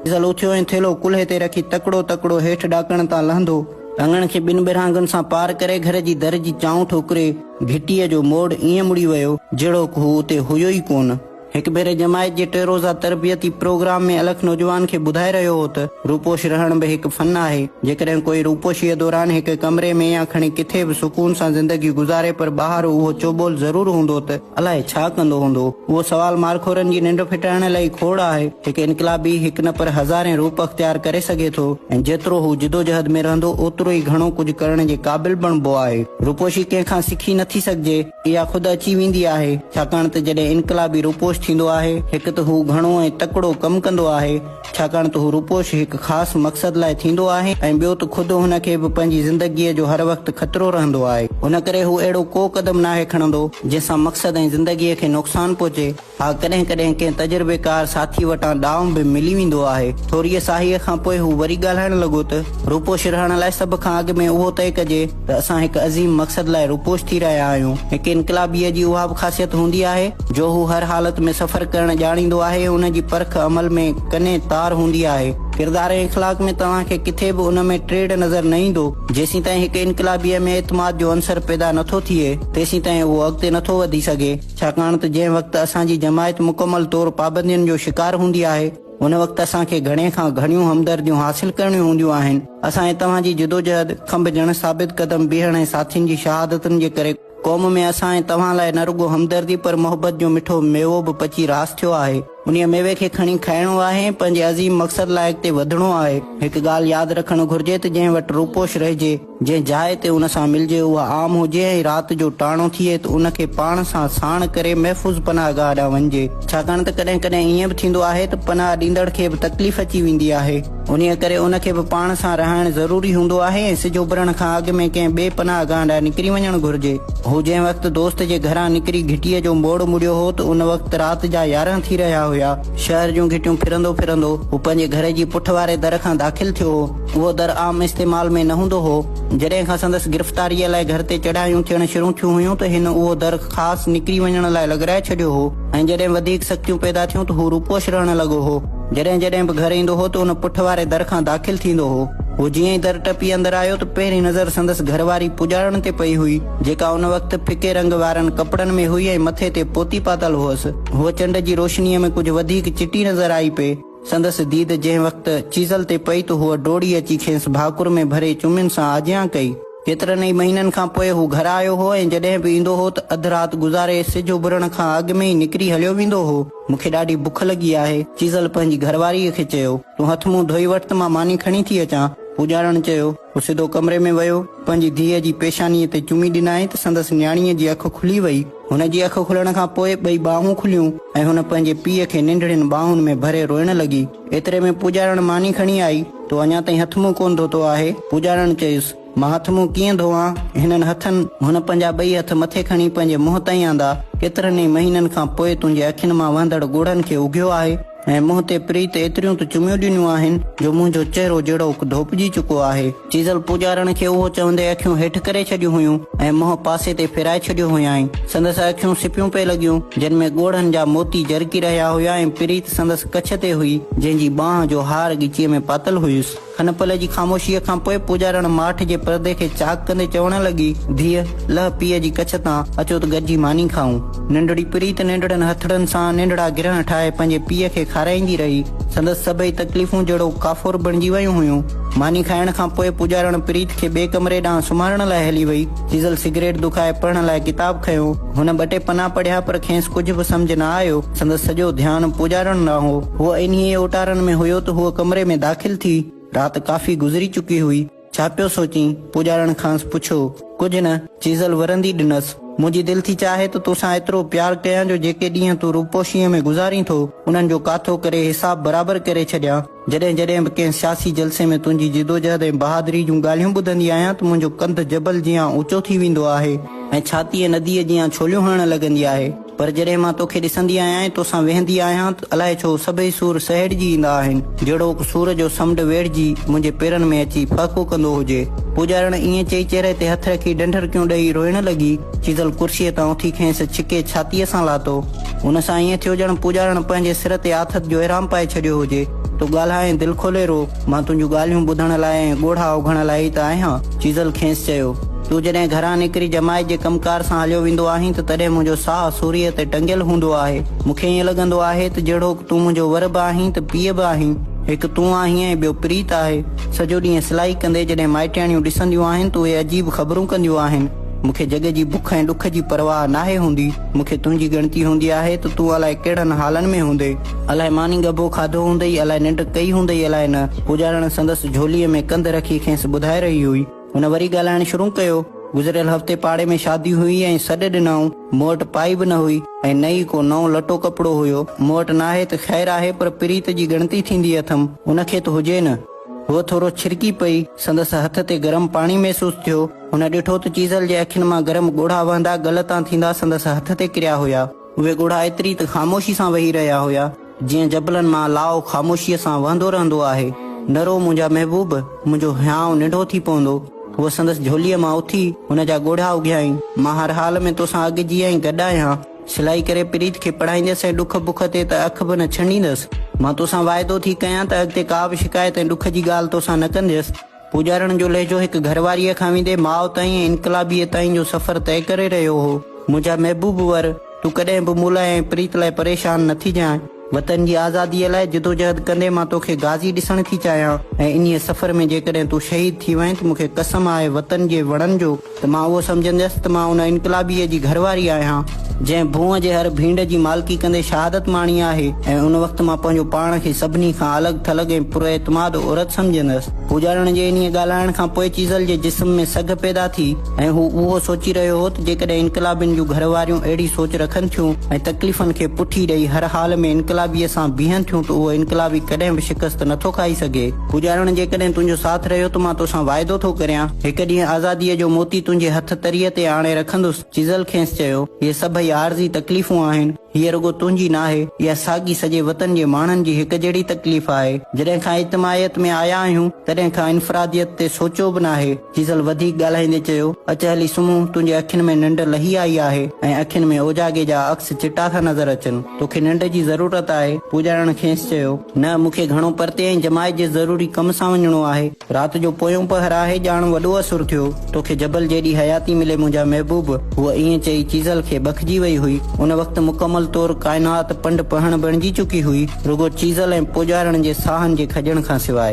Diesel اٿيو ۽ ٿيلهو ڪلهي تي رکي تڪڙو تڪڙو هيٺ ڏاڪڻ تان لهندو، لڱڻ کي ٻن ٻرهانگن سان پار ڪري گهر جي در جي چانء ٺوڪري، گهٽيء جو موڙ ائين مڙي ويو، جهڙوڪ هو اتي هيو ئي ڪونه. هڪ ڀيري جماعت جي ٽي روزه تربيتي پروگرام ۾ الخ نوجوان کي ٻڌائي رهيو هو ته روپوش رهڻ به هڪ فن آهي، جيڪڏهن ڪوئي روپوشيء دوران هڪ ڪمري ۾ يا کڻي ڪٿي به سڪون سان زندگي گذاري پر ٻاهر اهو چوٻول ضرور هوندو ته، الائي ڇا ڪندو هوندو؟ اهو سوال مارخورن جي ننڊ ڦٽائڻ لئي کوڙ آهي. هڪ انقلابي هڪ نه پر هزارين روپ اختيار ڪري سگهي ٿو ۽ جيترو هو جدوجهد ۾ رهندو اوترو ئي گهڻو ڪجهه ڪرڻ جي قابل بڻبو آهي. روپوشي ڪنهن کان سکي نٿي سگهجي. اها خود اچي ويندي آهي. ڇاڪاڻ ته جڏهن انقلابي روپوش ٿيندو آهي هڪ ته هو گهڻو ۽ تڪڙو ڪم ڪندو آهي ڇاڪاڻ ته هو روپوش هڪ خاص مقصد لاء ٿيندو آهي ۽ ٻيو ته خود هن کي به پنهنجي زندگيء جو هر وقت خطرو رهندو آهي. ان ڪري هو اهڙو ڪو قدم ناهي کڻندو، جنهن سان مقصد ۽ زندگيء کي نقصان پهچي. ها ڪڏهن ڪڏهن ڪنهن تجربيڪار ساٿيء وٽان ڏانء به ملي ويندو آهي. ٿوريء ساهيء کان پوء هو وري ڳالهائڻ لڳو ته، روپوش رهڻ لاء سڀ کان اڳ ۾ اهو طئي ڪجي، ته اسان هڪ عظيم مقصد لاء روپوش ٿي رهيا آهيون. هڪ انقلابيء جي اها به خاصيت هوندي آهي، جو هو هر حالت ۾ سفر ڪرڻ ڄاڻيندو آهي، ان جي پرک عمل ۾ ڪنين تار هوندي آهي. ڪردار ۽ اخلاق ۾ توهان کي ڪٿي به ان ۾ ٽيڙ نظر نه ايندو. جيسيتائين هڪ انقلابيء ۾ اعتماد جو عنصر پيدا نه ٿو ٿئي، تيسيتائين اهو اڳتي نه ٿو وڌي سگهي، ڇاڪاڻ ته جنهن وقت اسان جي جماعت مڪمل طور پابندين جو شڪار هوندي آهي، هن وقت اسان کي گهڻي کان گهڻيون همدرديون حاصل ڪرڻيون هونديون آهن. اسان ۽ توهان جي جدوجهد، کنڀجڻ، ثابت قدم بيهڻ ۽ ساٿين جي شهادتن جي ڪري قوم ۾ اسان ۽ توهان لاء نه رڳو همدردي پر محبت جو مٺو ميوو به پچي راس ٿيو آهي. انهيء ميوي کي کڻي کائڻو آهي ۽ پنهنجي عظيم مقصد لاء اڳتي وڌڻو آهي. هڪ ڳالهه ياد رکڻ گهرجي ته جنهن وٽ روپوش رهجي، جنهن جاء تي ان سان ملجي اها عام هجي ۽ رات جو ٽاڻو ٿئي ته ان کي پاڻ سان ساڻ ڪري محفوظ پناهه گاهه ڏانهن وڃجي، ڇاڪاڻ ته ڪڏهن ڪڏهن ائين به ٿيندو آهي ته پناهه ڏيندڙ کي به تڪليف اچي ويندي آهي، انهيء ڪري ان کي به پاڻ سان رهائڻ ضروري هوندو آهي ۽ سج اڀرڻ کان اڳ ۾ ڪنهن ٻئي پناهه گاهه ڏانهن نڪري وڃڻ گهرجي. هو جنهن وقت دوست جي گهران نڪري گهٽيء جو موڙ مڙيو هو ته ان وقت رات جا يارهن ٿي رهيا هيا. شهر جون گهٽيون ڦرندو ڦرندو هو پنهنجي گهر جي پٺ واري در کان داخل ٿيو هو. اهو در عام استعمال ۾ نه هوندو هو. جڏهن کان سندس گرفتاريء لاء گهر تي چڙهايون ٿيڻ شروع ٿيون هيون ته هن اهو در خاص نڪري وڃڻ لاء لڳرائي ڇڏيو هو ۽ جڏهن وڌيڪ سختيون پيدا ٿيون ته هو روپوش رهڻ لڳو هو. جڏهن جڏهن به گهر ايندو هو ته ان پٺ واري در کان داخل ٿيندو هو. هو جيئن ئي در ٽپي اندر آيو ته پهرين نظر سندس گهر واري پڄاڻڻ تي پئي هئي، جيڪا ان وقت ڦڪي رنگ وارن ڪپڙن ۾ هئي ۽ مٿي تي پوتي پاتل هئس. هوء چنڊ جي روشنيء ۾ ڪجهه وڌيڪ چٽي نظر آئي پئي. سندس ديد جنهن وقت چيزل تي پئي ته هوء ڊوڙي اچي کيس ڀاڪر ۾ ڀري چمين سان آجيان ڪئي. ڪيترن ئي مهينن کان پوء هو گهر آيو هو ۽ جڏهن به ايندو هو ته اڌ رات گذاري سج اڀرڻ کان اڳ ۾ ئي نڪري هليو ويندو هو. مون کي ڏاڍي بک لڳي آهي. چيزل پنهنجي گهر واريء کي چيو. تون هٿ منهن ڌوئي وٺ ته مان ماني کڻي ٿي اچان. پوڄارڻ چيو. هو سڌو ڪمري ۾ ويو، پنهنجي ڌيء جي پيشانيء تي چمي ڏنائين ته سندس نياڻيء جي اک کلي وئي. هن جي اک کلڻ کان پوء ٻئي ٻانهون کليون ۽ هن پنهنجي پيء کي ننڍڙين ٻانهن ۾ ڀري روئڻ لڳي. ايتري ۾ پوڄارڻ ماني کڻي آئي. تو اڃا تائين هٿ منهن ڪونه ڌوتو آهي؟ پوڄارڻ چيس. مان هٿ منهن ڪيئن ڌوئان؟ هنن هٿن. هن پنهنجا ٻئي هٿ مٿي کڻي پنهنجي منهن تائين آندا. ڪيترن ئي مهينن کان پوء تنهنجي اکين مان وهندڙ ڳوڙهن کي اگهيو آهي. ۽ منهن تي پريت ايتريون ته چميون ڏنيون آهن جو منهنجو چهرو جهڙوڪ ڌوپجي چڪو آهي. چيزل پوڄارڻ کي اهو چوندي اکيون هيٺ ڪري ڇڏيون هيون ۽ منهن پاسي تي ڦيرائي ڇڏيو هيائين. سندس اکيون سپيون پئي لڳيون، جن ۾ ڳوڙهن جا موتي جرڪي رهيا هيا ۽ پريت سندس ڪڇ تي هئي، جنهن جي ٻانهن جو هار ڳچيء ۾ پاتل هيس. ان پلئه جي خاموشيء کان پوء پوڄارڻ ماٺ جي پردي کي چاڪ ڪندي چوڻ لڳي، ڌيء، لهه پيء جي ڪڇ تان، اچو ته گڏجي ماني کائون. ننڍڙي پريت ننڍڙن هٿڙن سان ننڍڙا گرهن ٺاهي پنهنجي پيء کي کارائيندي رهي. سندس سڀئي تڪليفون جهڙو ڪافور بڻجي ويون هيون. ماني کائڻ کان پوء پوڄارڻ پريت کي ٻئي ڪمري ڏانهن سمهارڻ لاء هلي وئي. چيزل سگريٽ دکائي پڙهڻ لاء ڪتاب کنيو. هن ٻه ٽي پنا پڙهيا پر کينس ڪجهه به سمجهه نه آيو. سندس سڄو ڌيان پوڄارڻ ڏانهن هو. هوء انهيء اوٽارن ۾ هيو ته هوء ڪمري ۾ داخل ٿي. رات ڪافي گذري چڪي هئي. ڇا پيو سوچين؟ پوڄارڻ کانئس پڇيو. ڪجهه نه. چيزل ورندي ڏنس. منهنجي دل ٿي چاهي ته تو سان ايترو پيار ڪيان جو جيڪي ڏينهن تون روپوشيء ۾ گذارين ٿو، انهن جو ڪاٿو ڪري حساب برابر ڪري ڇڏيان. جڏهن جڏهن به ڪنهن سياسي جلسي ۾ تنهنجي جدوجهد ۽ بهادري جون ڳالهيون ٻڌندي آهيان ته منهنجو ڪنڌ جبل جيان اوچو ٿي ويندو آهي ۽ ڇاتيء نديء جيان ڇوليون هڻڻ لڳندي آهي پر جڏهن مان توکي ڏسندي آهيان ۽ توسان ويهندي آهيان ته الائي ڇو سڀئي سور سهيڙجي ايندا آهن جهڙوڪ سور جو سمنڊ ويڙهجي منهنجي پيرن ۾ اچي ڦهڪو ڪندو هجي پوڄارڻ ائين چئي چهري تي هٿ رکي ڏنڍرڪيون ڏئي روئڻ لڳي چيزل ڪرسيء تان اٿي کيس ڇڪي ڇاتيء سان لاتو. هن سان ائين ٿيو ڄڻ پوڄارڻ پنهنجي سر تي آٿت جو احرام پائي ڇڏيو هجي. تون ڳالهائين دل کولي رو، مان تنهنجون ڳالهيون ٻڌڻ لاء ۽ ڳوڙها اوگهڻ لاء ئي ته آهيان. چيزل کيس چيو. تون جڏهن گهران نڪري جماعت جي ڪم ڪار سان هليو ويندو آهين ته تڏهن منهنجو ساهه سوريء تي ٽنگيل هوندو آهي. مون کي ائين لڳندو آهي ته جهڙوڪ تون منهنجو ور به آهين ته پيء به آهين. هڪ تون آهين ۽ ٻيو پريت آهي. سڄو ڏينهن سلائي ڪندي جڏهن مائٽياڻيون ڏسنديون آهن ته اهي عجيب خبرون ڪنديون آهن. مون کي جڳ جي بک ۽ ڏک جي پرواهه ناهي هوندي. مون کي تنهنجي ڳڻتي هوندي آهي ته تون الائي ڪهڙن حالن ۾ هوندين. الائي ماني ڳڀو کاڌو هوندئي، الائي ننڊ ڪئي هوندئي الائي نه. پوڄارڻ سندس جهوليء ۾ ڪنڌ رکي کيس ٻڌائي رهي هئي. هن وري ڳالهائڻ شروع ڪيو. گذريل هفتي پاڙي ۾ شادي هئي ۽ سڏ ڏنائون. مون وٽ پائي به نه هئي ۽ نه ئي ڪو نئون لٽو ڪپڙو هيو. مون وٽ ناهي ته خير آهي پر پريت جي ڳڻتي ٿيندي اٿم. ان کي ته هجي نه. هوء ٿورو ڇرڪي پئي. سندس هٿ تي گرم پاڻي محسوس ٿيو. هن ڏٺو ته چيزل جي اکين مان گرم ڳوڙها وهندا ڳل تان ٿيندا سندس هٿ تي ڪريا هيا. اهي ڳوڙها ايتري ته خاموشي سان وهي رهيا هيا، جيئن جبلن مان لاء خاموشيء سان وهندو رهندو آهي. نه رو منهنجا محبوب، منهنجو هيانء ننڍو ٿي پوندو. هوء سندس جهوليء مان اٿي هن جا ڳوڙها اگهيائين. مان هر حال ۾ توسان اڳ جيئن ئي گڏ آهيان. سلائي ڪري پريت کي پڙهائينديس ۽ ڏک بک تي ته اک به نه ڇنڊيندس. مان توسان واعدو ٿي ڪيان ته اڳتي ڪا به شڪايت ۽ ڏک جي ڳالهه توسان نه ڪنديس. پوڄارڻ جو لهجو هڪ گهر واريء کان ويندي ماء تائين ۽ انقلابيء تائين جو سفر طئي ڪري رهيو هو. منهنجا محبوب ور! تون ڪڏهن به مون لاء ۽ پريت لاء پريشان نه ٿيجانء. وطن جي آزاديء لاء جدوجهد ڪندي مان توکي غازي ڏسڻ ٿي چاهيان ۽ انهيء سفر ۾ جيڪڏهن تون شهيد ٿي وئين ته مون کي قسم آهي وطن جي وڻن جو ته مان اهو سمجهنديس ته مان ان انقلابيء جي گهر واري آهيان جنهن ڀونء جي هر ڀينڊ جي مالڪي ڪندي شهادت ماڻي آهي ۽ ان وقت مان پنهنجو پاڻ کي سڀني کان الڳ ٿلڳ ۽ پراعتماد عورت سمجهنديس. پوڄارڻ جي انهيء ڳالهائڻ کان پوء چيزل جي جسم ۾ سگهه پيدا ٿي. ۽ هو اهو سوچي رهيو هو ته جيڪڏهن انقلابين جون گهر واريون اهڙي سوچ رکن ٿيون ۽ تڪليفن کي پٺي ڏئي هر حال ۾ انقلابيء سان بيهن ٿيون ته اهو انقلابي ڪڏهن به شڪست نه ٿو کائي سگهي. پوڄارڻ جيڪڏهن تنهنجو ساٿ رهيو ته مان توسان واعدو ٿو ڪريان هڪ ڏينهن آزاديء جو موتي تنهنجي هٿ تريء تي آڻي رکندس. چيزل کينس چيو، هي سڀئي عارضي تڪليفون آهن. هيء رڳو تنهنجي ناهي. اها ساڳي سڄي وطن جي ماڻهن جي هڪ جهڙي تڪليف آهي. جڏهن کان اجتماعيت ۾ آيا آهيون، تڏهن کان انفراديت تي سوچيو به ناهي. جيسل وڌيڪ ڳالهائيندي چيو، اچ هلي سمهون، تنهنجي اکين ۾ ننڊ لهي آئي آهي ۽ اکين ۾ اوجاڳي جا عڪس چٽا ٿا نظر اچن، توکي ننڊ جي ضرورت آهي؟ پوڄارڻ کيس چيو، نه، مون کي گهڻو پرتي ۽ جماعت جي ضروري ڪم سان وڃڻو آهي، رات جو پويون پهر آهي، ڄاڻ وڏو اسر ٿيو، توکي جبل جيڏي حياتي ملي منهنجا محبوب، هوء ائين چئي چيسل کي بکجي وئي هئي، ان وقت مڪمل طور ڪائنات پنڊ پهڻ بڻجي چڪي هئي، رڳو چيسل ۽ پوڄارڻ جي ساهن جي کڄڻ کان سواء.